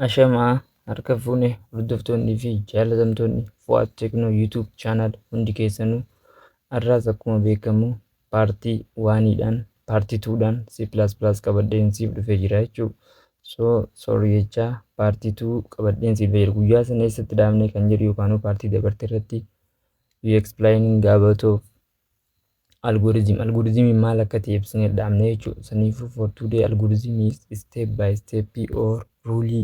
Ashamaa harka fuune hordoftoonnii fi jaalatamtoonni Fu'aad Teknoo YouTube channel hundi keessanuu har'aas akkuma beekamu paartii waaniidhaan paartii tuudhaan C++ qabadheen siif dhufee jira jechuu so sorry jechaa paartii tuu qabadheen siif jira guyyaa sana eessatti dhaabnee kan jedhu yookaan paartii dabarte irratti you explaining gaabatuuf Algorithm algorithm maal akka ta'e ibsinee dhaabne jechuudha. Saniifuu for today algorithm is step by step or rule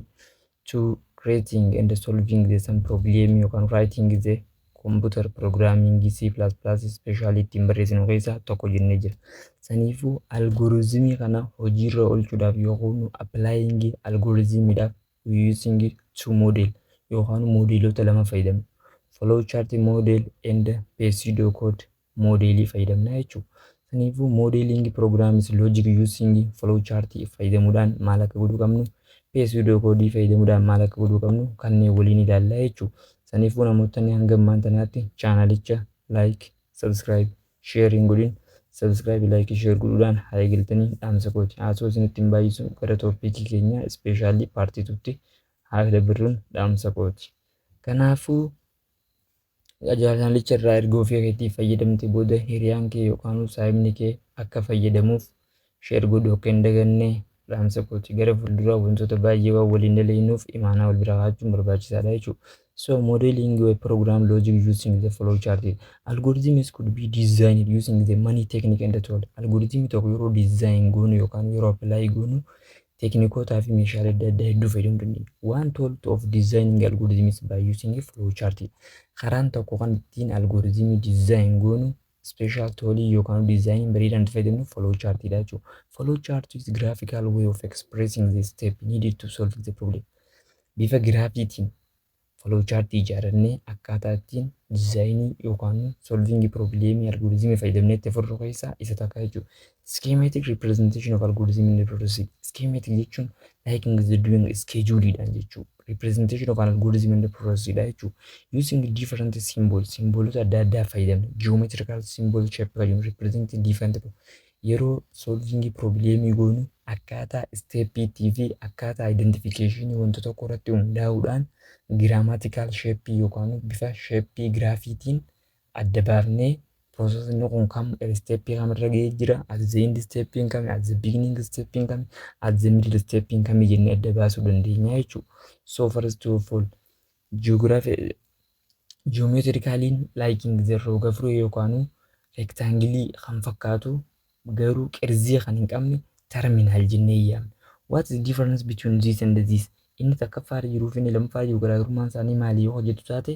to creating and solving the some problem yookaan writing the computer programming C++ special ittiin barreessinu keessaa tokko jennee jira. Saniifuu algorithm kana hojiirra oolchuudhaaf yookaan applying algorithm dhaaf we using two model yookaan moodeelota lama fayyadamna. Flow chart model and pseudocode moodeelii fayyadamna jechuudha. Kanaafuu modeling programs logic using flow chart fayyadamuudhaan maal akka godhuu qabnu pseudocode fayyadamuudhaan maal akka godhuu qabnu kanneen waliin ilaalla jechuudha. Kanaafuu namootni hanga ammaan tanaatti chaanalicha like, subscribe, Share hin godhin subscribe like share godhuudhaan haa eegaltanii dhaamsa kooti haasoo isinitti hin baay'isu gara topiikii keenyaa ispeeshaalii paartii tutti haa dabarruun dhaamsa kooti kanaafuu ajaajalicha irraa erga ofii keetii fayyadamte booda hiriyaan kee yookaan saayibni kee akka fayyadamuuf Share godhuu akka hin daganne dhaamsa kooti. Gara fuulduraa wantoota baay'ee waan waliin dalagnuuf imaanaa wal bira kaa'achuun barbaachisaadha jechuudha. So modeling your program logic using the flow chart. Algorithms could be designed using the money technique and tool. Algorithm tokko yeroo design goonu yookaan yeroo apply goonu teknikootaa fi meeshaalee adda addaa hedduu fayyadamuu dandeenya. One tool to of designing algorithms by using flow chart. Karaan tokko kan ittiin algoritmii design goonu special toolii yookaan diizaayinii bareedaa nuti fayyadamnu flow chart dha jechuudha. Flow chart is graphical way of expressing the step needed to solve the problem. Bifa giraafiitiin flow chart ijaarannee akkaataa ittiin diizaayinii yookaan solving problemii algoritmii fayyadamnee itti furru keessaa isa takka jechuudha. Schematic representation of algorithm in processing. Schematic jechuun like in the doing schedule dhaan jechuu. Representation of an algorithm in the process dha jechuu. Using different symbol, simboolota adda addaa fayyadamna. Geometrical symbol shape fayyadamna. Represent different yeroo solving problem goonu akkaataa step ittii fi akkaataa identification wanta tokko irratti hundaa'uudhaan grammatical shape yookaan bifa shape graafiitiin adda baafnee process inni kun kam step kam irra ga'ee jira at the end step kami at the beginning step kami at the middle step kami jennee adda baasuu dandeenya jechuudha. So first of all geography geometrically liking the roga furee yookaan reektaangilii kan fakkaatu garuu qerzii kan hin qabne terminal jennee yaamna. What is difference between this and this? Inni takkaffaa irra jiruu fi inni lammaffaa irra jiru garaagarummaan isaanii maali yoo hojjetu taate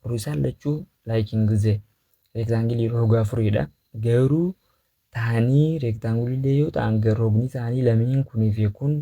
warri isaan lachuu liking the rectangle roga afuriidha. Garuu taanii rectangle illee yoo ta'an rogni isaanii lameen kunii fi kun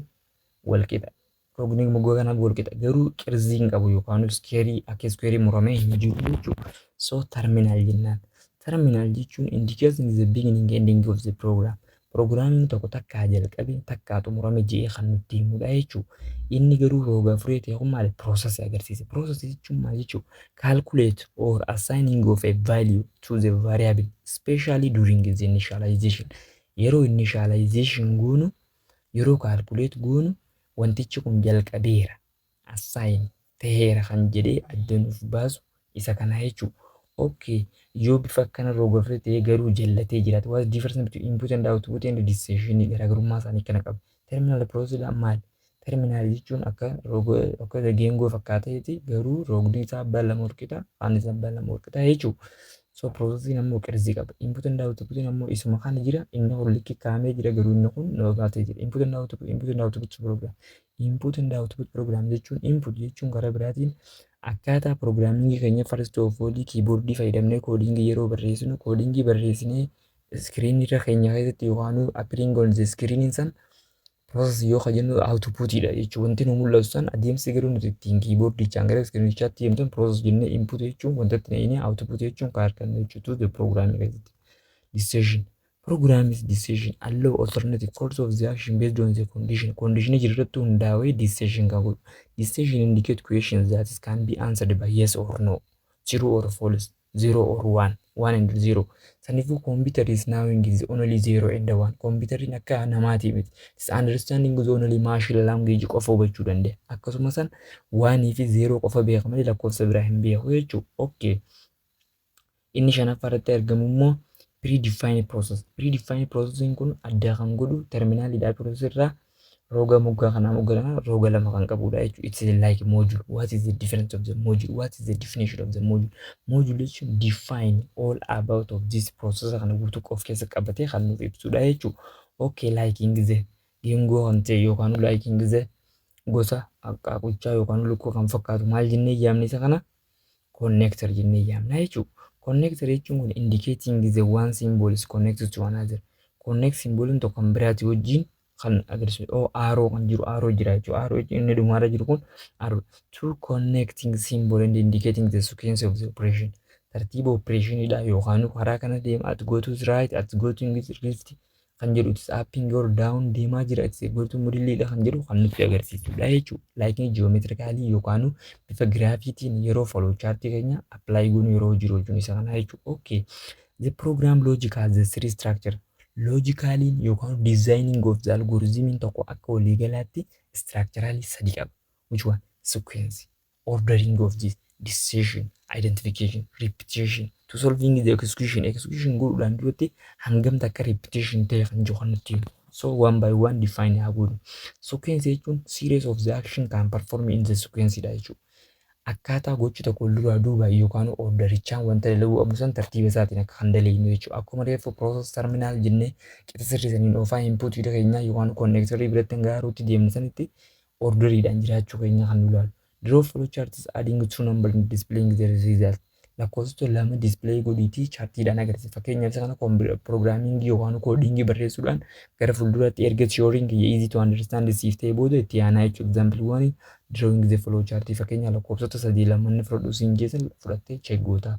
wal qixa. Rogni moggaa kanaaf wal qixa garuu qirzii hin qabu yookaan iskeerii akka iskeerii muramee hin jiru jechuudha. So terminal jennaan. Terminal jechuun indicating the beginning and ending of the program. Prograamiin tokko takkaa jalqabee takkaa xumurame je'ee kan nutti himudha jechuudha. Inni garuu roga afurii ta'e kun maali? Process agarsiisa. Process jechuun maal jechuudha? Calculate or assigning of a value to the variable especially during the initialization. Yeroo initialization goonu yeroo calculate goonu wantichi kun jalqabeera, assign, taheera kan jedhee adda nuuf baasu isa kanaa jechuu. ok yoo bifa akkana rogafree ta'ee garuu jallatee jiraate what's difference between input and output and decision garaagarummaa isaanii kana qabu. terminal process dhaan maal? terminal jechuun akka roga akka geengoo fakkaateeti garuu rogni isaa abbaa lama walqixa afaan isaa abbaa lama walqixa jechuu. So processing ammoo qirzii qaba. Input and output ammoo isuma kana jira. Inni kun likki kaa'amee jira garuu inni kun nama baatee jira. Input and output input and output program. Input and output program jechuun input jechuun karaa biraatiin akkaataa pirogiraamingii keenya first of all kiiboordii fayyadamnee koodingii yeroo barreessinu koodingii barreessinee iskiriinii irra keenya keessatti yookaan appearing on the screen san Process yoo ka jennu output dha jechuun wanti nu mul'atu san adeemsi garuu nuti ittiin kiiboordichaan gara iskiriinichaatti deemnu sun process jennee input jechuun wanta itti naqinee output jechuun ka argannu jechuutu the program keessatti. Decision. Program is decision allow alternative course of the action based on the condition. Condition jiru irratti hundaa'ee decision kan godhu. Decision indicate questions that is can be answered by yes or no, true or false. Zero or one, one and zero. Saniifuu computer is now in is only zero and one. Computerriin akka namaatii miti. It is understanding is only machine language qofa hubachuu danda'a. Akkasuma san one fi zero qofa beeka malee lakkoofsa biraa hin beeku jechuudha. Okay. Inni shanaffaa irratti argamu immoo predefined process. Predefined processing kun addaa kan godhu terminaalidha process irraa Roga moggaa kanaa moggaa lama roga lama kan qabudha jechuudha. It's like module. What is the difference of the module? What is the definition of the module? Module jechuun define all about of this process kana guutuu of keessa qabatee kan nuuf ibsudha jechuudha. Okay, liking the geengoo kan ta'e yookaan liking the gosa qaaqochaa yookaan lukkuu kan fakkaatu maal jennee yaamne isa kana connector jennee yaamna jechuudha. Connector jechuun kun indicating the one symbols connected to another. Connect symboliin tokko kan biraati wajjin kan agarsiisu oo aaroo kan jiru aaroo jira jechuudha. Aaroo jechuun inni dhumaarra jiru kun aaroo. Two connecting symbol and indicating the sequence of the operation. Tartiiba opereeshiniidha yookaan karaa kana deema at go to right at go to left kan jedhu itis appiin yoo daawun deemaa jira itis eeggoortuu mudilliidha kan jedhu kan nutti agarsiisudha jechuudha. Laayikiin ji'oomeetirikaalii yookaan bifa giraafiitiin yeroo foloo chaartii keenya appilaayi goonu yeroo jiru jechuun isa kanaa jechuudha. Okay. The program logic has the three structure. Loojikaaliin yookaan diizaayiniin of the algorithm tokko akka waliigalaatti istiraakcharaali sadi qaba. Which one? Sequence. ordering of this decision, identification, repetition to solving the execution. Execution godhuudhaan duratti hangam takka repetition ta'e kan jiru kan nutti himu. So one by one define haa godhu. Sequence jechuun series of the action can perform in the sequence dha jechuudha. Akkaataa gochi tokko wal duraa duuba yookaan orderichaan wanta dalaguu qabnu san tartiiba isaatiin akka kan dalagnu jechuudha. Akkuma reeffa process terminal jennee qixa sirrii saniin oofaa input bira keenyaa yookaan connector biratti hanga haaruutti deemnu sanitti orderiidhaan jiraachuu keenya kan nu ilaalu. Draw flowcharts adding two number and displaying the result. Lakkoofsota lama display godhiitii chaartiidhaan agarsiisa. Fakkeenyaaf isa kana pirogiraamingii yookaan koodingii barreessuudhaan gara fuulduraatti erga theory'n kiyya easy to understand siif ta'e booda itti yaanaa jechuudha. Example one drawing the flow chart fakkeenya lakkoofsota sadii lamanni fudhadhu siin jeesan fudhattee check goota.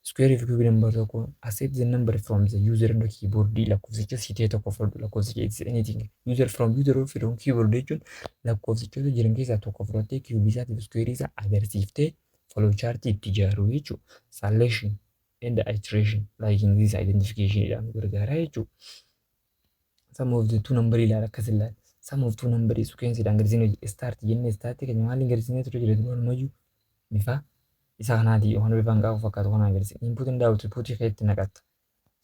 Square of cube number tokko accept the number from the user iddoo keyboard lakkoofsicha si ta'e tokko fudhadhu lakkoofsicha it's anything user from user of from keyboard jechuun lakkoofsichoota jiran keessaa tokko fudhattee cube isaatiif square isaa agarsiiftee flow chart itti ijaaruu jechuu selection and iteration liking this identification jedhamu gargaaraa jechuu Sum of the two number ilaala akkas ilaala. Sum of two number is sequence dhaan gadisiin hojii start jennee start keenya maaliin gadisiinee ture jira duraan mayyuu bifa isa kanaatii yookaan bifa hanqaaquu fakkaatu kanaan gadisiin input and output keetti naqatta.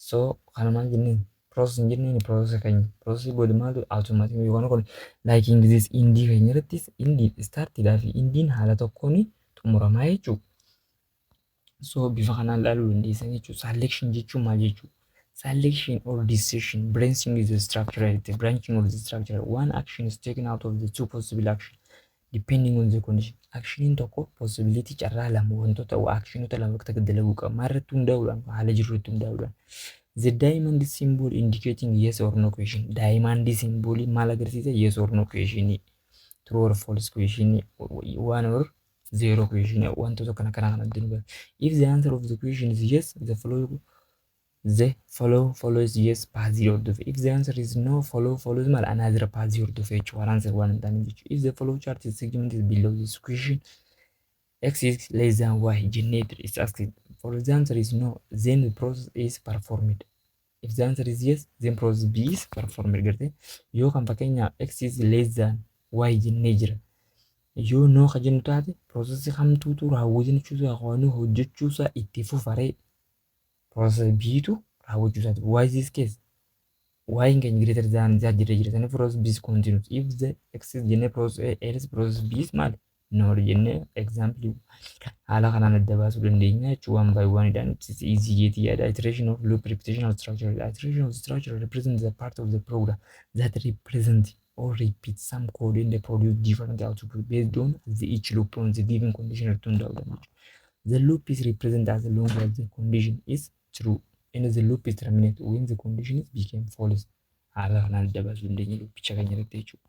So kana maal jenneen process hin jenneen process keenya process booda maaltu automatic yookaan kun like in this indii keenya irrattis indii start dhaa fi indiin haala tokkoon xumuramaa jechuudha. So bifa kanaan ilaaluu dandeessan jechuudha. Selection jechuun maal jechuudha? Selection or decision branching is the structure heredity branching of the structure one action is taken out of the two possible action depending on the condition actioniin tokko possibility carraa lama wantoota actionota lama akka dalaguu qaba maal irratti hundaa'uudhaan haala jiru irratti hundaa'uudhaan the diamond symbol indicating yes or no question diamond symbol maal agarsiisa yes or no question true or false question one or zero question wantoota kana kana kana abdii nugaa if the answer of the question is yes the follow the follow follow is yes paazii hordofe if the answer is no follow follow is maal anaazira paazii hordofe jechuudha waan answer waan hin taane jechuudha if the follow chart is segment is below this question x is less than y jennee is asked for the answer is no then the process is performed If the answer is yes, then process B is performed garte. Yoo kan fakkeenyaaf x is less than y jennee jira. Yoo noo ka jennu taate process kamtuutu raawwatee jechuutu haqoonuu hojjechuusaa itti fufaree. Process B'tu raawwachuusaati. Why is this case? y in can greater than z jira jira sani process b is continuous if the x is jenne process a else process b is maali noor jennee example haala kanaan adda baasuu dandeenya jechuun waan baay'ee waan idhaan ibsisi easy jeetii yaada iteration of loop repetitional structure the iteration of structure represent the part of the program that represent or repeat some code and produce different output based on the each loop on the given condition irratti hundaa'uu dandeenya. The loop is represent as long as the condition is true and the loop is terminate when the condition is became false. Haala kanaan adda baasuu dandeenya loopicha keenya irratti jechuudha.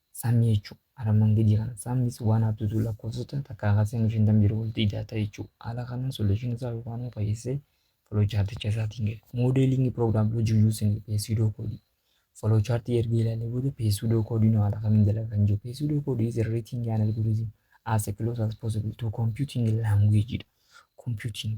Sum jechuu armaan gadii kana. Sum is 1 up to 2 lakkoofsota takkaa kaasee hanga 50 jiru walitti ida'ata jechuu. Haala kanaan solution isaa yookaan immoo fayyessee flow chart icha isaatiin gale. Modeling program logic using pseudo code. Flow chart erga ilaalee booda pseudo code nu haala kamiin dalaga kan jiru. Pseudo code is a writing an algorithm as close as possible to computing language dha. Computing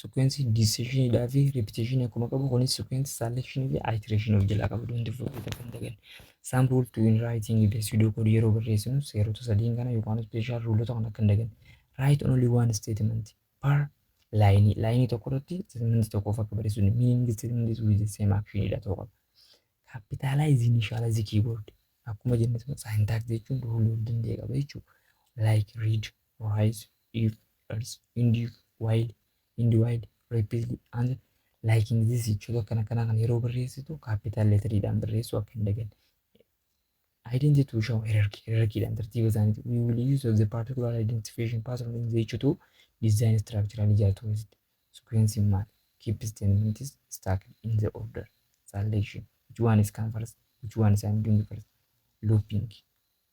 Sequence decision dhaa fi repetition akkuma qabu kunis sequence selection fi iteration of jalaa qaba don't forget akka hin daganne. Some rule to in writing the pseudo code yeroo barreessinu seerota sadiin kana yookaan special rulota kana akka hin daganne. Write only one statement per line. Line tokko irratti statement tokkoof akka barreessinu meaning statement is with the same action dha ta'uu qaba. Capitalize initialize keyboard. Akkuma jenne syntax jechuun rule of danda'e qaba jechuudha. Like read, write, if, dollars in the while in the while rapidly and liking this jechuun akkana kana kan yeroo barreessitu capital letter'dhaan barreessuu akka hin daganne. Identity to show hierarchy hierarchy'dhaan tartiiba isaaniiti. We will use of the particular identification pattern in the jechuutu design structural ijaartuu keessatti. Sequence in maal? Keep statements stacked in the order. Selection. Which one is come first? Which one is I'm doing first? Looping.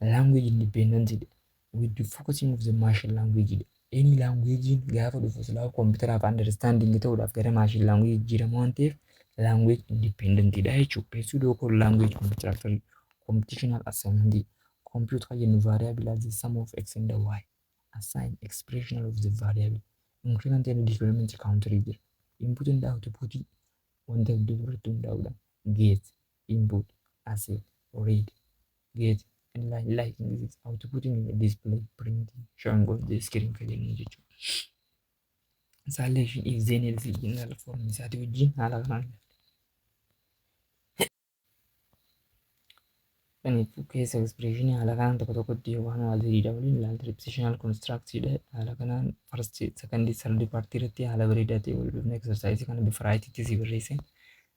Language independent dha. We do focusing of the machine language dha. Any language gaafa dhufu silaa koompitaraaf understanding ta'uudhaaf gara machine language jijjiirama waan ta'eef language independent dha jechuudha. Pursuit of all language computational computational assignment dha. Compute kan jennu variable as the sum of x and y. Assign expression of the variable. Increment and decrement counter jira. Input and output wanta hedduu irratti hundaa'uudhaan geesse. input, asset, read, get, and line like in this output in the display, print, showing on the screen kan jennu jechuudha. Selection is then is general form isaatii wajjin haala kanaan Kanaafuu keessa expression haala kanaan tokko tokkotti waan waa ziriidha waliin ilaalta repetitional constructidha. Haala kanaan first second third party irratti haala bareedaa ta'e wal dhufne exercise kana bifa raayitiitti si barreesse.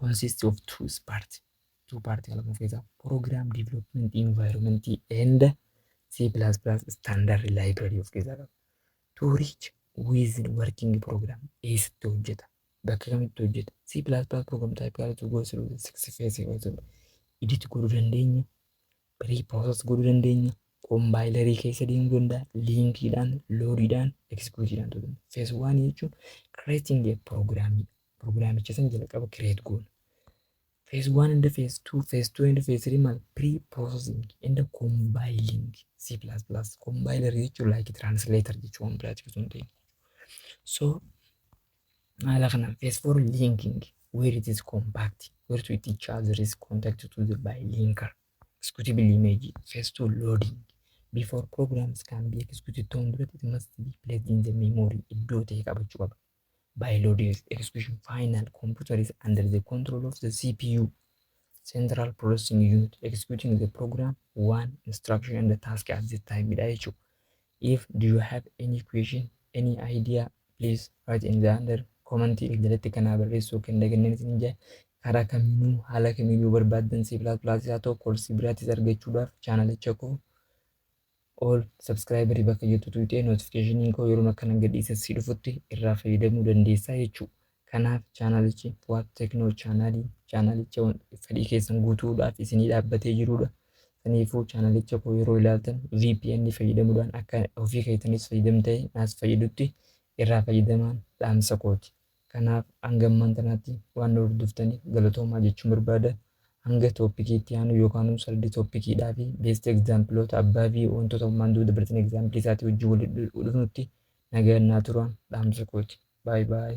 consists of two parts two parts kan of keessaa program development environment and C++ standard library of keessaa qaba. To reach within working program eessatti hojjeta bakka kamitti hojjeta C++ program type yaala to go through the six phases of the edit godhuu dandeenya pre-process godhuu dandeenya kombaayilarii keessa deemuu danda'a liinkiidhaan loodiidhaan eksekuutiidhaan ta'uu danda'a. Phase 1 jechuun creating a program Pirogiraamicha san jalqaba kireet goona. Phase 1 and phase 2, phase 2 and phase 3 maal pre-processing and compiling C++ compiler jechuun like translator jechuun waan biraati osoo hin ta'in. So haala kanaan phase 4 linking where it is compact where to it charger is contact to the by linker executable image phase 2 loading before programs can be executed ta'uun duratti it must be placed in the memory iddoo ta'e qabachuu qaba. By loaded execution final computer is under the control of the CPU, Central Processing Unit, executing the program, one instruction and the task at the time dha jechuudha. If do you have any question, any idea, please write in the under comment jalatti kanaa barreessuu kan daganneen isin jaa karaa kamiinuu haala kamiin yoo barbaaddan C++ haa ta'u koorsii biraatis argachuudhaaf chaanalicha koo All subscriber bakka jettu tuqxee notification koo yeroon akkanan gadhiise si dhufutti irraa fayyadamuu dandeessaa jechuu. Kanaaf chaanalichi Fuad Techno channel chaanalicha wan- fedhii keessan guutuudhaaf isinii dhaabbatee jiruudha. Saniifuu chaanalicha koo yeroo ilaaltan VPN fayyadamuudhaan akka ofii keessanis fayyadamtee naas fayyadutti irraa fayyadamaan dhaamsa kooti. Kanaaf hanga ammaan tanaatti waan na hordoftaniif galatoomaa jechuun barbaada. Hanga toopikii itti aanu yookaanuu sardi toopikiidhaa fi beest egzaampiloota abbaa fi wantoota ammaan dura dabartan egzaampilii isaatii wajjin wal dhufnutti nagaan naa tura dhaamsa kooti. Baay baay.